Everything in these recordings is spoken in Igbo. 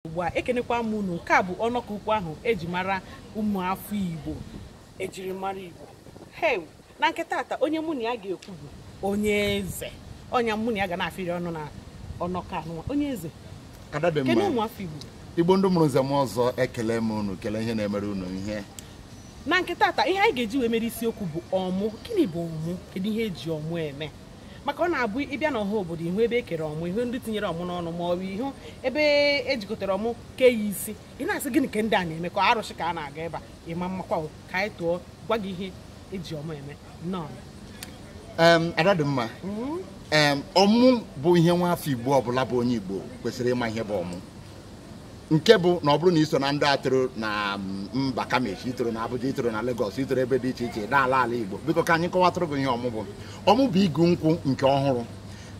ugbu a ekenekwa m unu nke a bụ ọnọkọ ukwu ahụ eji mara ụmụafọ igbo ejiri mara igbo hew na nke tata onye mụ na ya ga-ekwu bụ onye eze onye mụ na ya ga na-afịrị ọnụ na ọnọkọ anụnwa onye eze ada dị kene mma ụmụafọ igbo igbo ndị mụrụ nze na ọzọ ekele m unu kele ihe na-emere unu ihe na nke tata ihe anyị ga-eji wee mere isiokwu bụ ọmụ gịnị bụ ọmụ kedu ihe eji ọmụ eme maka ọ na-abụ ị bịa n'ọha obodo ị hụ ebe e kere ọmụ ị hụ ndị tinyere ọmụ n'ọnụ ma ọ bụ ị hụ ebe e jikọtara ọmụ ke ya isi ị na-asị gịnị ka ndị a na-eme ka arụsị ka a na-agọ ebe a ị ma mmakwa o, ka anyị tụọ gwa gị ihe eji ọmụ eme nnọọ Em, ada dị mma Em, ọmụ bụ ihe nwa afọ igbo ọbụla bụ onye igbo kwesịrị ịma ihe bụ ọmụ nke bụ na ọ bụrụ na i so na ndị toro na mm, mba kama echi i toro na Abuja i toro na Lagos i toro ebe dị iche iche na-ala ala Igbo biko ka anyị kọwatụrụ gị ihe ọmụ bụ ọmụ bụ igu nkwụ nke ọhụrụ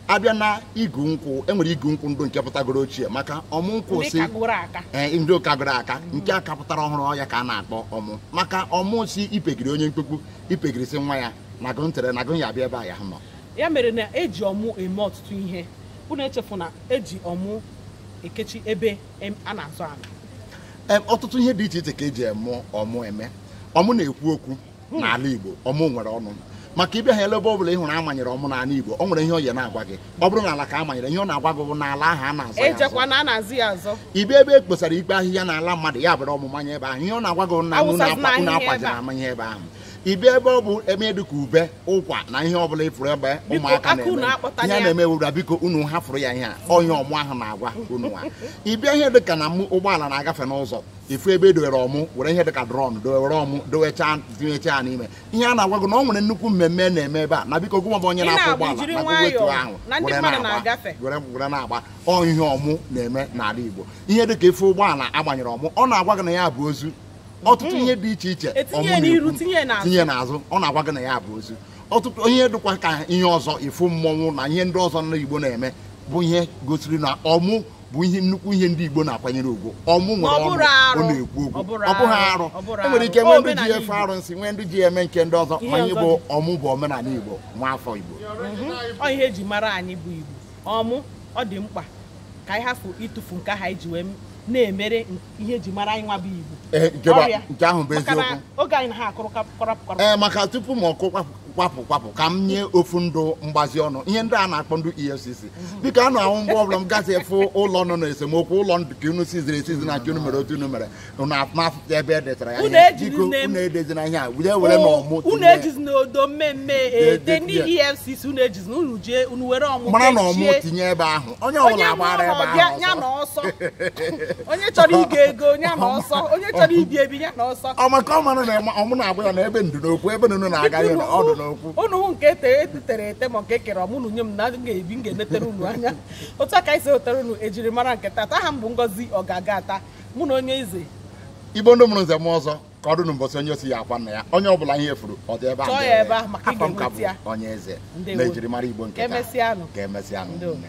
a bịa na igu nkwụ e nwere igu nkwụ ndụ nke pụtagoro ochie maka ọmụ nkwụ ndị si kagoro aka ee ndị kagoro aka nke ka pụtara ọhụrụ ọ ya ka a na-akpọ ọmụ maka ọmụ sị ipegiri onye mkpukpu ipegiri sị nwa ya na gụ ntere na gụ ya abịa ebe a ya nọ ya mere na eji ọmụ eme ọtụtụ ihe unu echefuna eji ọmụ ekechi ebe a na-azọ ala ọtụtụ ihe dị iche iche ka eji eme ọmụ eme ọmụ na-ekwu okwu hmm. n'ala Igbo ọmụ nwere ọnụ maka ị bịa ha elebe ọbụla ị hụrụ a manyere ọmụ n'ala Igbo ọ nwere ihe ọ ya na-agwa gị ọ bụrụ na ala ka a manyere ihe ọ na-agwa gị bụ na ala ahụ a na-azọ ya azọ ị bịa ebe e kposara ikpo ahịhịa n'ala mmadụ ya buru ọmụ manye ebe ahụ ihe ọ na-agwa gị na unu na-akwaji na amanye ebe ahụ ị bịa ebe ọ bụ ihe dịka ube ụkwa na ihe ọbụla ị fụrụ ebe ụmụaka na-eme ihe na-eme wụra biko unu hafụrụ ya ihe a ọ ihe ọmụ ahụ na-agwa unu nwa ị bịa ihe dịka na ụgbọala na-agafe n'ụzọ ị fụ ebe e dowere ọmụ were ihe dịka drọm dowere ọmụ dowechaa tinyechaa n'ime ihe a na-agwa gị na ọ nwere nnukwu mmemme na-eme ebe a na biko gụnwa bụ onye na-akwọ ụgbọala na gụ wetuo ahụ were na-agba ọ ihe ọmụ na-eme n'ala Igbo ihe dịka ị fụ ụgbọala a gbanyere ọmụ ọ na-agwa gị na ya bu ozu ọtụtụ hmm. ihe dị iche iche e tinye n'azụ ọ na-agwa gị na ya bu ozu ọtụtụ ihe dịkwa ka ihe ọzọ ịfụ mmọnwụ na ihe ndị ọzọ ndị Igbo na-eme bụ ihe gosiri na ọmụ bụ ihe nnukwu ihe ndị Igbo na-akwanyere ugwu ọmụ nwere ọnụ ọ na-ekwu okwu ọ bụghị arụ e nwere ike nwee ndị ji efe arụsị nwee ndị ji eme nke ndị ọzọ ma ihe bụ ọmụ bụ omenala Igbo nwa afọ Igbo mhm. ọ ihe eji mara anyị bụ Igbo ọmụ ọ dị mkpa ka anyị hafụ ịtụfu nke ahụ e ji wee na-emere ihe eji mara anyị nwa bụ igbo Eh, nke bụ- Ọrịa. nke ahụ bụ maka na eziokwu oge anyị na ha akụrụ kap- kọrọpụ kọrọpụ ee maka tupu m akụ kwapụ kwapụ kwapụ ka m nye ofu ndụ mgbazi ọnụ ihe ndị a na-akpọ ndị efcc biko a na-ahụ mgbe ọbụla m gasị afụ ụlọ nọ na esemokwu ụlọ ndụ ka unu siziri esizi na nke unu mere otu unu mere unu afụta ebe e detara ya Unu ihe. ejiri biko nne m- unu edezina ihe a were werenụ ọmụ unu tinye- ejizina odo mmee mmee ete ndị efcc unu eji na unu jee unu were ọmụ mara na ọmụ kechie. tinye ebe ahụ onye ọbụla onye agbara ebe mụrụ ya ahụ ya ọsọ. na ọsọ onye chọrọ ịgo ego ya na ọsọ onye chọrọ ibi ebi ya na ọsọ ọ maka ọ mara na ema- ọmụ na-agwa ya na ebe ndụ n'okwu ebe unu na-aga ya na ọ dụ n'okwu unu hụ nke ete etere ete ma nke kere ọmụ unu nye m na m ga-ebi m ga-enetere unu anya otu a ka anyị si ewetere unu ejirimara nke tata aha m bụ ngozi ọgaga ata mụ na onye eze igbo ndị mụrụ nze mụọ ọzọ ka ọ dụ n'ụbọchị onye o si ya akwa nna ya onye ọ bụla ihe furu ọ dị ebe Chọọ ya ebe ahụ maka ị afọ m ka ga-enweta ya. bụ onye eze Ndewo. na ejiri mara igbo nke Ka taa. emesịanụ. ka emesịanụ Ndewo. nne.